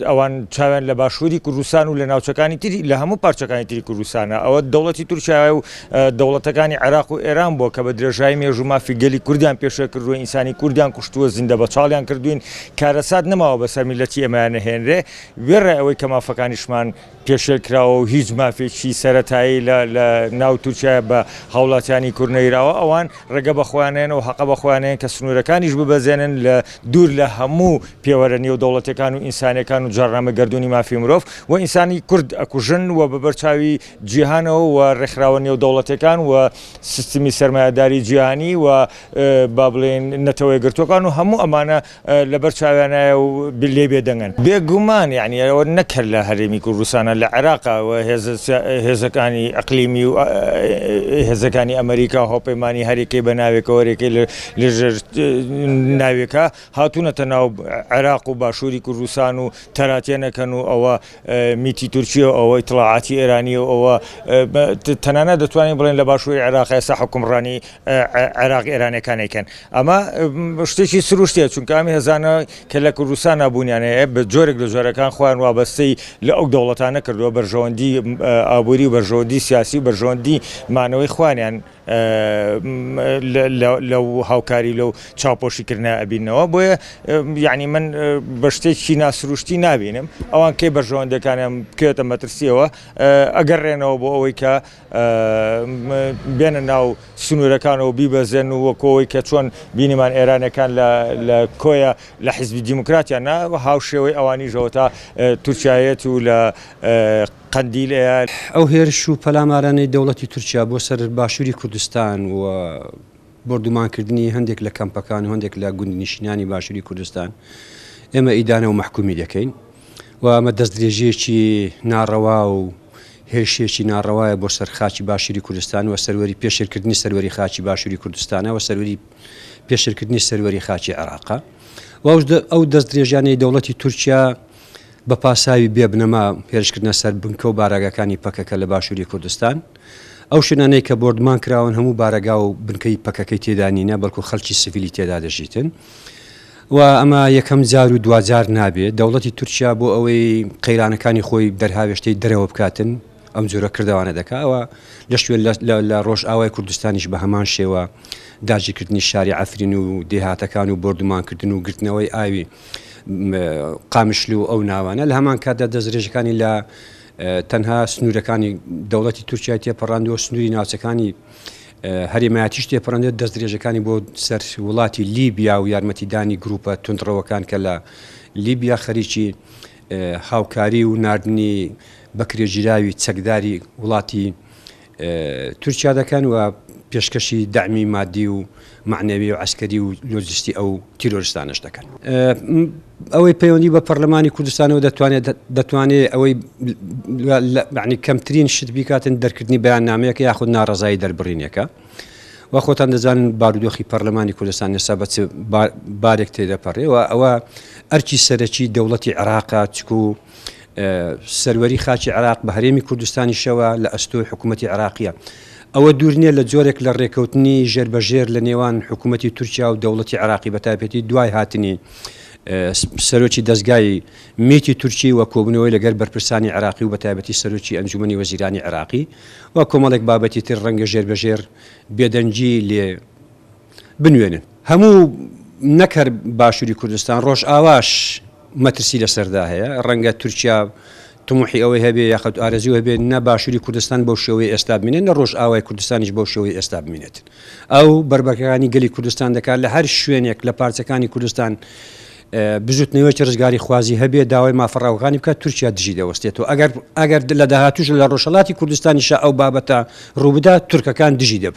ئەوان چاویان لە باشووری کوردستان و لە ناوچەکانی تری لە هەموو پارچەکانی تری کوردستانە، ئەوە دەوڵەتی تورکیایە و دەوڵەتەکانی عێراق و ئێران بووە کە بە درێژایی مێژوو مافی گەلی کوردیان پێشێل کردووە، ئینسانی کوردیان کوشتووە، زیندە بەچاڵیان کردووین، کارەسات نەماوە بەسەر میللەتی ئێمەیان نەهێنرێ، وێڕای ئەوەی کە مافەکانیشمان. پێشێلکراوە و هیچ مافێکی سەرەتایی لە ناو تورکیایە بە هاوڵاتیانی کورد نەیراوە، ئەوان ڕێگە بە خۆیان نەیەن و هەقە بە خۆیان نەیەن کە سنوورەکانیش ببەزێنن لە دوور لە هەموو پێوەرە نێودەوڵەتییەکان و ئینسانییەکان و جاڕنامەی گەردوونی مافی مرۆڤ و ئینسانی کورد ئەکوژن و بە بەرچاوی جیهانەوە و ڕێکخراوە نێودەوڵەتییەکان و سیستمی سەرمایەداری جیهانی و با بڵێین نەتەوەیەکگرتووەکان و هەموو ئەمانە لەبەر چاویانایە و لێ بێدەنگن. بێ گومان یەعنی ئەوە نەک هەر لە هەرێمی کوردستانە لە عێراقە و هێزەکانی ئەقلیمی و هێزەکانی ئەمەریکا و هاوپەیمانانی هەرێکەی بە ناوێکەوە هەرێکەی لەژێر ناوێکە هاتوونەتە ناو عێراق و باشووری کوردستان و تەراتێنەکەن و ئەوە میتی تورکییە و ئەوە ئیتڵاعاتی ئێرانییە و ئەوە تەنانەت دەتوانین بڵێین لە باشووری عێراق ئێستا حوکمڕانیی عێراق ئێرانییەکان ئەیکەن. ئەمە شتێکی سروشتییە، چونکە ئەم هێزانە کە لە کوردستانا بوونیان هەیە، بە جۆرێک لە جۆرەکان خۆیان وابەستەی لە ئەو دەوڵەتانە کردووە، بەرژەوەندیی ئابووری و بەرژەوەندیی سیاسی و بەرژەوەندیی مانەوەی خۆیانیان، لەو هاوکاری لەو چاوپۆشی کردنە ئەبینەوە بۆیە یعنی من بە شتێکی ناسروشتی نابینم ئەوان کەی بەرژەوەندەکانیان بکەێتە مەترسیەوە ئەگەر ڕێنەوە بۆ ئەوەی کە بێنە ناو سنوورەکانەوە بیبەزێن و وەکەوەی کە چۆن بینیمان ئێرانەکان لە کۆیە لە حیزبی دیموکراتیان نا هاوشێوەی ئەوانیشەوە تا تورکایەت و لە قەندیل ئەیار. ئەو هێرش و پەلامارانەی دەوڵەتی تورکیا بۆ سەر باشووری کوردستان و بۆردومانکردنی هەندێک لە کەمپەکان و هەندێک لە گوندنشینانی باشووری کوردستان ئێمە ئیدانە و مەحکومی دەکەین و ئەمە دەستدرێژیەکی ناڕەوا و هێرشێکی ناڕەوایە بۆ سەر خاچی باشووری کوردستان و سەروەری پێشێلکردنی سەروەری خاچی باشووری کوردستانە و سەروەری پێشرکردنی سەروەری خاچی عێراقا و ئەو دەستدرێژیانەی دەوڵەتی تورکیا بە پاساوی بێ بنەما هێرشکردنە سەر بنکە و بارەگاکانی پەکەکە لە باشووری کوردستان. ئەو شوێنانەی کە بۆردمان کراون هەموو بارەگا و بنکەی پەکەکەی تێدا نینە، بەڵکو خەڵکی سڤیلی تێدا دەژیتن و ئەمە یەکەم جار و دواجار نابێت. دەوڵەتی تورکیا بۆ ئەوەی قەیرانەکانی خۆی دەرهاوێشتەی دەرەوە بکاتن ئەم جۆرە کردەوانە دەکا. ئەوە لە شوێن لە ڕۆژئاوای کوردستانیش بە هەمان شێوە داگیرکردنی شاری عەفرین و دێهاتەکان و بۆردومانکردن و گرتنەوەی ئاوی قامشلو و ئەو ناوانە، لە هەمان کاتدا دەستدرێژەکانی لە تەنها سنوورەکانی دەوڵەتی تورکیای تێپەڕاندووە، سنووری ناوچەکانی هەرێمایەتیش تێپەڕاندێت، دەستدرێژەکانی بۆ سەر وڵاتی لیبیا و یارمەتیدانی گروپە توندڕەوەکان کە لە لیبیا خەریکی هاوکاری و ناردنی بەکرێگیراوی چەکداری وڵاتی تورکیا دەکەن و پێشکەشی دەعمی مادی و مەعنەوی و عەسکەری و لۆجستی ئەو تیرۆرستانەش دەکەن. ئەوەی پەیوەندی بە پەرلەمانی کوردستانەوە دەتوانێت دەتوانێت ئەوەی کەمترین شت بیکاتن دەرکردنی بەیاننامەیەکە یاخود ناڕەزایی دەربڕینێکە. و خۆتان دەزانن بارودۆخی پەرلەمانی کوردستان ئێستا بە بارێک تێدەپەڕێەوە ئەوە ئەرکی سەرەکی دەوڵەتی عێراقا چکو سەروەری خاکی عێراق بە هەرێمی کوردستانیشەوە لە ئەستۆی حکوومەتی عێراقییە. ئەوە دوور نییە لە جۆرێک لە ڕێککەوتنی ژێربەژێر لە نێوان حکوومەتی تورکیا و دەوڵەتی عێراقی بەتایبەتی دوای هاتنی سەرۆکی دەزگای میتی تورکی و کۆبوونەوەی لەگەر بەرپرسانی عێراقی و بەتایبەتی سەرۆکی ئەنجومنی وەزیرانی عێراقی و کۆمەڵێک بابەتی تر ڕەنگە ژێربەژێر بێدەنگی لێ بنوێنن هەموو نەک هەر باشوری کوردستان ڕۆژئاواش مەترسی لەسەردا هەیە ڕەنگە تورکیا تموحی ئەوەی هەبێ یاخود ئارەزی هەبێ نە باشوری کوردستان بەو شێوەی ئێستا بینێت نە ڕۆژ ئاوای کوردستانیش بەو شێوەی ئێستا بینێت ئەو بەربەکانی گەلی کوردستان دەکات لە هەر شوێنێک لە پارچەکانی کوردستان بزوتنەوەی ڕزگاری خوازی هەبێ داوای مافڕاوەکانی بکە تورکیا دژی دەوەستێتەوە ئەگەر ئەگەر لە داهاتوش لە ڕۆژهڵاتی کوردستانیشە ئەو بابەتە ڕووبدا تورکەکان دژی دەب